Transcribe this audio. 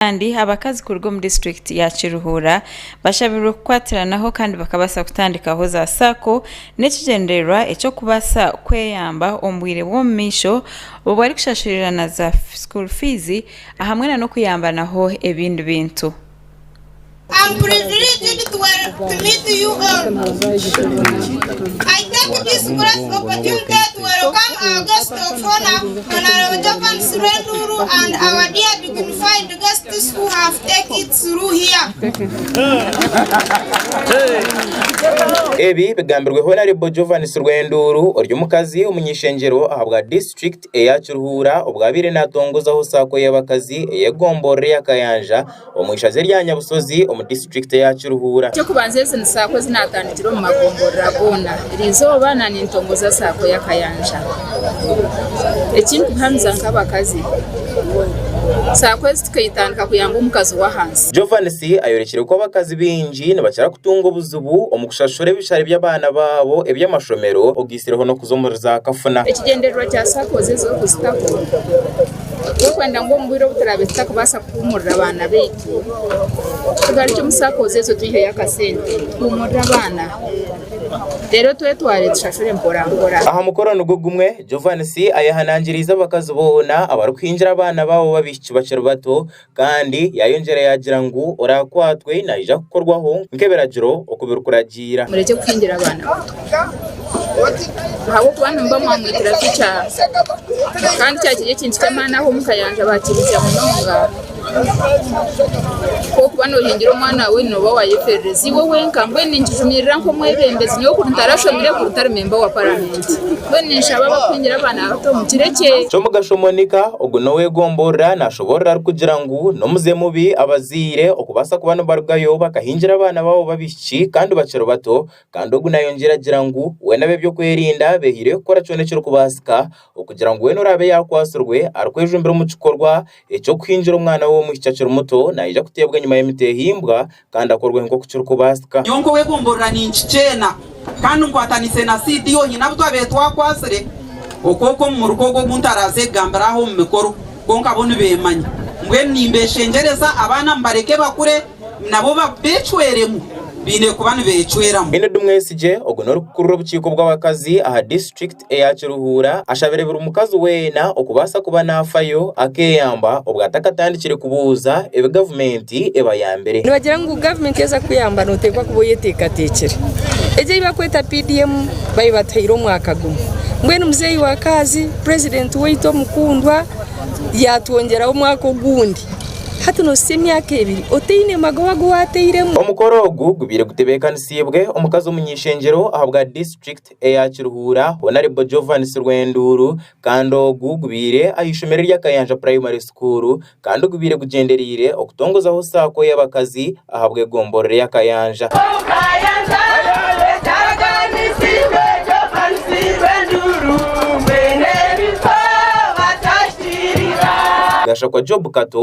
Kandi abakazi kuruga omu disiturikiti ya Kiruhura bashabirwe kukwatiranaho kandi bakabaasa kutandikaho za sacco n'ekigyendererwa eky'okubaasa kweyamba omu bwire bw'omumaisho obwarikushasurira za school fees ahamwe n'okuyambanaho ebindi bintu. Ebi bigambirwe Honarebo Jovans Rwenduuru ori omukazi omuny'ishengyero ahabwa District. eya Kiruhura obwo abaire naatongozaho saako y'abakazi ey'egomborora eya Kayanja omu ishaza erya Nyabushozi omu disiturikiti ya Kiruhura. Eky'okubanza ezi ni saako ezi naatandikire omu magomborora goona buri izooba na nintongoza saako ya Kayanja. Ekindikuhamiza nk'abakazi saako ezi tukaitandika kuyamba omukazi w'ahansi. Jovanis ayorekire ku abakazi baingi nibakira kutunga obuzibu omu kushashura ebishare by'abaana baabo eby'amashomero. Ekikwatsizeho n'okuza omuri za kafuna. Ekigyendererwa kya SACCOs ezi okuzitaho n'okwenda ngu omu bwire obu turaabe tutakubaasa kuhuumurira abaana baitu, tugarukye omu SACCOs ezo twiheyo akasente tuhuumurire abaana reero twetware tushashure mporampora. Aha mukoro nigwo gumwe, Jovanisi ayehanangiriize abakazi boona abarikuhingira abaana baabo b'abaishiki bakiri bato Kandi yaayongyera yaagira ngu, Oraakwatwe naija kukorwaho nk'ebiragiro oku birikuragiira. Murekye kuhingira abaana bato, ahabw'okuba nimuba mwamwitira tukye. Kandi kyaba kiri ekintu ky'amaani ahu omu ka yangye baakihikiire munonga. Ku orikuba noohingira omwana waawe, nooba waayeferereza iwe wenka. Mbwenu ninkijumirira nk'omwebembezi, nyowe kuri ntarashomire, kuri ntari memba wa Paramenti. Ky'omugasho Monica, ogu n'owegomborora nashoborora arikugira ngu n'omuze mubi abazaire okubaasa kuba nibarugayo bakahingira abaana baabo b'abaishiki kandi bakiri bato kandi ogu nayongera agira ngu we n'abebyokwerinda beehaire kukora kyona ekirikubaasika okugira ngu weena oraabe yakwatsirwe arikwejumbira omu kikorwa eky'okuhingira omwana we ow'omwishiki akiri muto nayija kuteebwa enyima y'emiti ehimbwa kandi akorweho nk'oku kirikubaasika. Nyowe nk'ow'ebumburira ninkikyeena kandi nkwatanise na CDO hiine abu twabaire twakwatsire okwo okwo omu muruka ogu ogu ntaraaze kugambira aha omu mikoro kwonka bo nibeemanya. Mbwenu nimbeeshengyereza abaana mbareke bakure nabo beecweremu baine kuba nibeecweramu. Enid Mwesigye, Ogu n'orikukurira obukiiko bw'abakazi aha disiturikiti. eya Kiruhura ashabire buri mukazi weena okubaasa kuba naafayo akeeyamba obwo atakatandikire kubuuza ebi gavumenti ebayambire. Nibagira ngu gavumenti yaza kukuyamba nooteekwa kuba oyeteekateekire. Egyo ei barikweta PDM baibataire omwaka gumwe. Mbwenu muzeeyi wa Kaazi, purezidenti waitu omukundwa yaatwongyeraho omwaka ogundi. Hati noosisya emyaka ebiri otaine magoba gu waateiremu. Omukoro ogu gubaire gutebeekanisiibwe omukazi omunyaishengyero ahabwa District eya Kiruhura honarebo Jovan Sirwenduuru kandi ogu gubaire ah'eishomero erya Kayanja primary school kandi gubaire gugyendereire okutongozaho saako y'abakazi ahabw'egomborora eya Kayanja. Gashakwa Job Kato